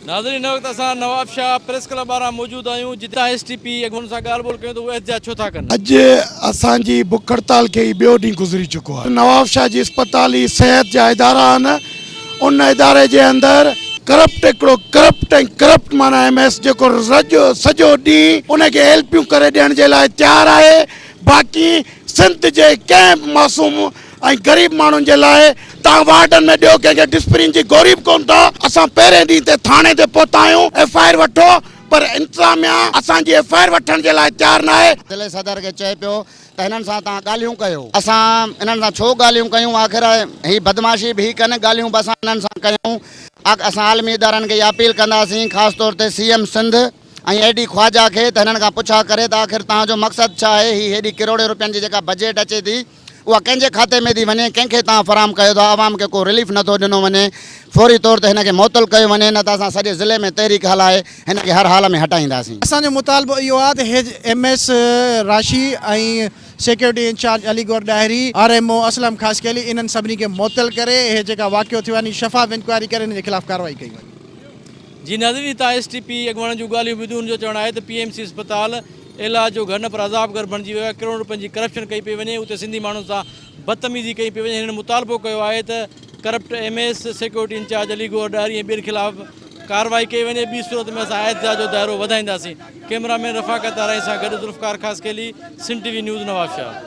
ناظرين هن وقت اسان نواب شاهه پريس ڪلب ٻاهران موجود آهيون جتي اسان ايس ٽي پي اڳواڻن سان ڳالهه ٻولهه ڪيون ته هو احتجاج ڇو ٿا ڪن. اڄ اسان جي بک هڙتال کي هي ٻيو ڏينهن گذري چڪو آهي نواب شاهه جي اسپتال هي صحت جا ادارا آهن ان اداري جي اندر ڪرپٽ هڪڙو ڪرپٽ ۽ ڪرپٽ معنيٰ ايم ايس جيڪو رڄ سڄو ڏينهن ان کي هيلپيون ڪري ڏيڻ جي لاء تيار آهي باقي سنڌ جي ڪنهن به معصوم ۽ غريب ماڻهن جي لاء توهان وارڊن ۾ ڏيو ڪنهن کي ڊسپرين جي گوري به ڪون ٿا اسان پهرين ڏينهن تي ٿاڻي تي پهتا آهيون ايف آء آر وٺو پر انتظاميا اسان جي ايف آء آر وٺڻ جي لاء تيار ناهي. ضلعي صدر کي چئي پيو ته هنن سان توهان ڳالهيون ڪيو. اسان انهن سان ڇو ڳالهيون ڪيون آخر هي بدمعاشي به ڪن ڳالهيون به اسان انهن سان ڪيون اسان عالمي ادارن کي اها اپيل ڪنداسين خاص طور تي C M Sindh ۽ A D Khawaja کي ته هنن کان پڇا ڪري ته آخر توهان جو مقصد ڇا آهي هي هيڏي ڪروڙين روپين جي جيڪا بجيٽ اچي ٿي اها ڪنهن جي کاتي ۾ ٿي وڃي، ڪنهن کي تان فراهم ڪيو ٿا، عوام کي ڪو رليف نه ٿو ڏنو وڃي، فوري طور تي هن کي معطل ڪيو وڃي نه ته اسان سڄي ضلعي ۾ تحريڪ هلائي هن کي هر حال ۾ هٽائينداسين. اسان جو مطالبو اهو آهي ته هيج ايم ايس راشي ۽ security incharge Ali Gohar Dahri, R M O Aslam Khaskheli انهن سڀني کي معطل ڪري هي جيڪا واقعو ٿيو آهي شفاف انڪوائري ڪري انهن جي خلاف ڪارروائي ڪئي وڃي. جي ناظرين هتان ايس ٽي پي اڳواڻن جون ڳالهيون ٻڌيون ان جو چوڻ آهي ته پي ايم سي اسپتال، ايلا جو گهر نه پر عذاب گهر بڻجي ويو آهي، ڪروڙن رپين جي ڪرپشن ڪئي پئي وڃي، اتي سنڌي ماڻهن سان بدتميزي ڪئي پئي وڃي، هنن مطالبو ڪيو آهي ته corrupt M A S, security incharge Ali Gohar Dahri ۽ ٻين خلاف ڪارروائي ڪئي وڃي، ٻي صورت ۾ اسان احتجاج جو دائرو وڌائينداسين، ڪئميرا مين رفاقت تارائي سان گڏ Zulfiqar Khaskheli, Sindh T V news, Nawabshah.